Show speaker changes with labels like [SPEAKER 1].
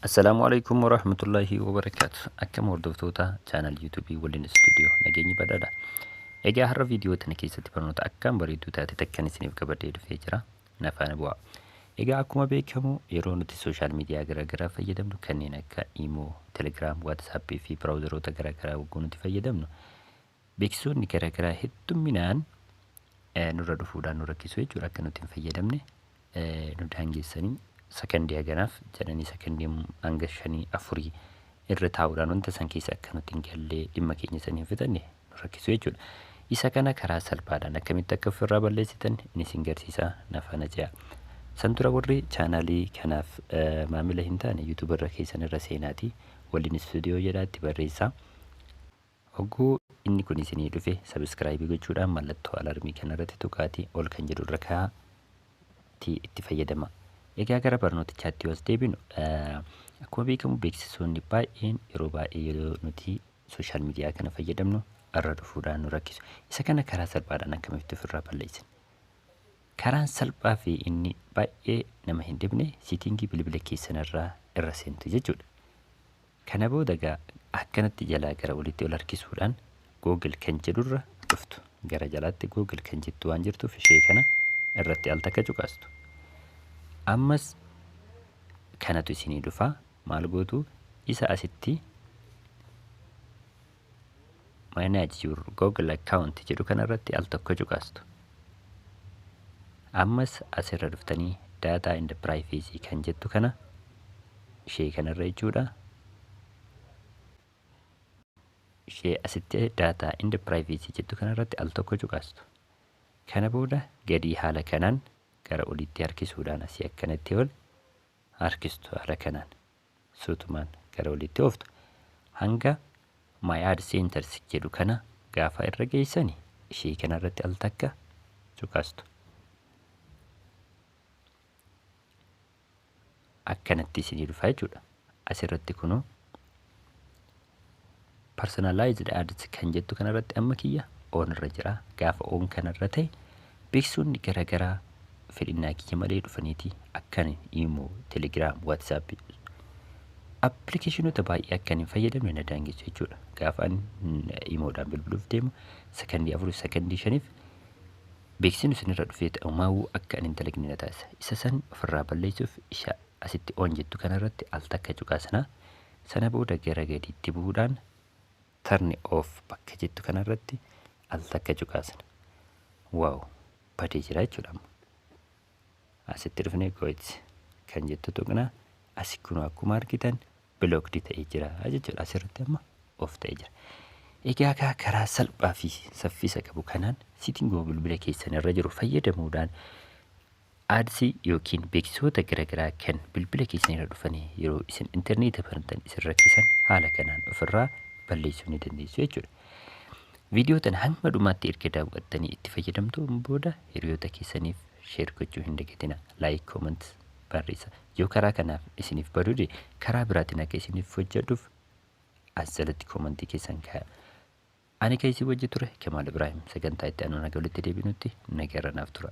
[SPEAKER 1] Assalaamu alaikum warahmatullaahi wabarakaatu. Akkam hordoftoota chaanal yuutuubii waliin istuudiyoo nageenyi badhaadha. Egaa har'a viidiyoo tana keessatti barnoota akkaan bareedduu taate takkan isiniif qabadhee dhufee jira. Na faana bu'aa. Egaa akkuma beekamu yeroo nuti sooshaal miidiyaa garaagaraa fayyadamnu kanneen akka Imo, Telegram, WhatsApp fi biraawuzaroota garaagaraa wagguu nuti fayyadamnu Beeksisoonni garagaraa heddumminaan nurra dhufuudhaan nu rakkisu jechuudha. Akka nuti hin fayyadamne nu daangessanii sakandii haganaaf jedhanii sakandii hanga shanii afurii irra taa'uudhaan wanta san keessa akka nuti hin gallee dhimma keenya san hin fixanne nu rakkisu jechuudha. Isa kana karaa salphaadhaan akkamitti akka ofirraa balleessitan inni isin garsiisaa na faana ce'a. San dura warri chaanaalii kanaaf maamila hin taane yuutuubarra keessan irra seenaatii waliin istuudiyoo jedhaa itti barreessaa. Hogguu inni kun isinii dhufe subscribe gochuudhaan mallattoo alarmii kana irratti tuqaatii ol kan jedhu irra kaa'a ti itti fayyadama. Egaa gara barnootichaatti yoo as deebinu akkuma beekamu beeksisoonni baay'een yeroo baay'ee yeroo nuti sooshaal miidiyaa kana fayyadamnu irra dhufuudhaan nu rakkisu. Isa kana karaa salphaadhaan akkamitti ofirraa balleessina? Karaan salphaa fi inni baay'ee nama hin dhibne siitingii bilbila keessanirraa irra seentu jechuudha. Kana booda egaa akkanatti jalaa gara olitti ol harkisuudhaan Google kan jedhurra dhuftu. Gara jalaatti Google kan jettu waan jirtuuf ishee kana irratti al takka cuqaastu. Ammas kanatu isinii dhufa. Maal gootu? Isa asitti manage your google account jedhu kana irratti al tokko cuqaastu ammas asirra dhuftanii data and privacy kan jettu kana ishee kanarra jechuudha ishee asitti data and privacy jettu kanarratti al tokko cuqaastu kana booda gadii haala kanaan gara olitti harkisuudhaan asii akkanatti ol harkistu haala kanaan suutumaan gara olitti ooftu hanga my ad centers jedhu kana gaafa irra geessani ishii kana irratti al takka cuqastu akkanatti isinii dhufa jechuudha asirratti kunuu personalized ads kan jettu kanarratti amma kiyya on irra jira gaafa on kanarra ta'e beeksisoonni garagaraa fedhinnaa kiyya malee dhufaniiti akkan imo telegram whatsapp appilikeeshinoota baay'ee akkan hin fayyadamne na daangessu jechuudha gaafa an imoodhaan bilbiluuf deemu sakandii afur sakandii shaniif beeksisni isinirra dhufee ta'u maawuu akka an hin dalagne na taasisa isa san ofirraa balleessuuf isa asitti on jettu kanarratti al takka cuqaasinaa Sana booda gara gadiitti bu'uudhaan Turn off bakka jettu kanarratti al takka cuqaasna. Waaw! Badee jira jechuudha amma. Asitti dhufnee Goit kan jettu tuqna. Asi kunoo akkuma argitan blocked ta'ee jira jechuudha. Asirratti amma off ta'ee jira. Egaa kaa karaa salphaa fi saffisa qabu kanaan sitting bilbila keessan irra jiru fayyadamuudhaan Ads ykn beeksisoota garagaraa kan bilbila keessan irra dhufanii yeroo isin interneeta bantan isin rakkisan haala kanaan ofirraa balleessuu ni dandeessu jechuudha. Viidiyoo tana hanga dhumaatti erga daawwattanii itti fayyadamtuun booda hiriyoota keessaniif sheer gochuu hin dagatina. Laayik koomant barreessa. Yoo karaa kanaaf isiniif badude karaa biraatiin akka isiniif hojjedhuuf as jalatti koomantii keessan kaaya. Ani kan isin wajji ture Kamaal Ibraahim sagantaa itti aanuun haga walitti deebinutti nageerra naaf tura.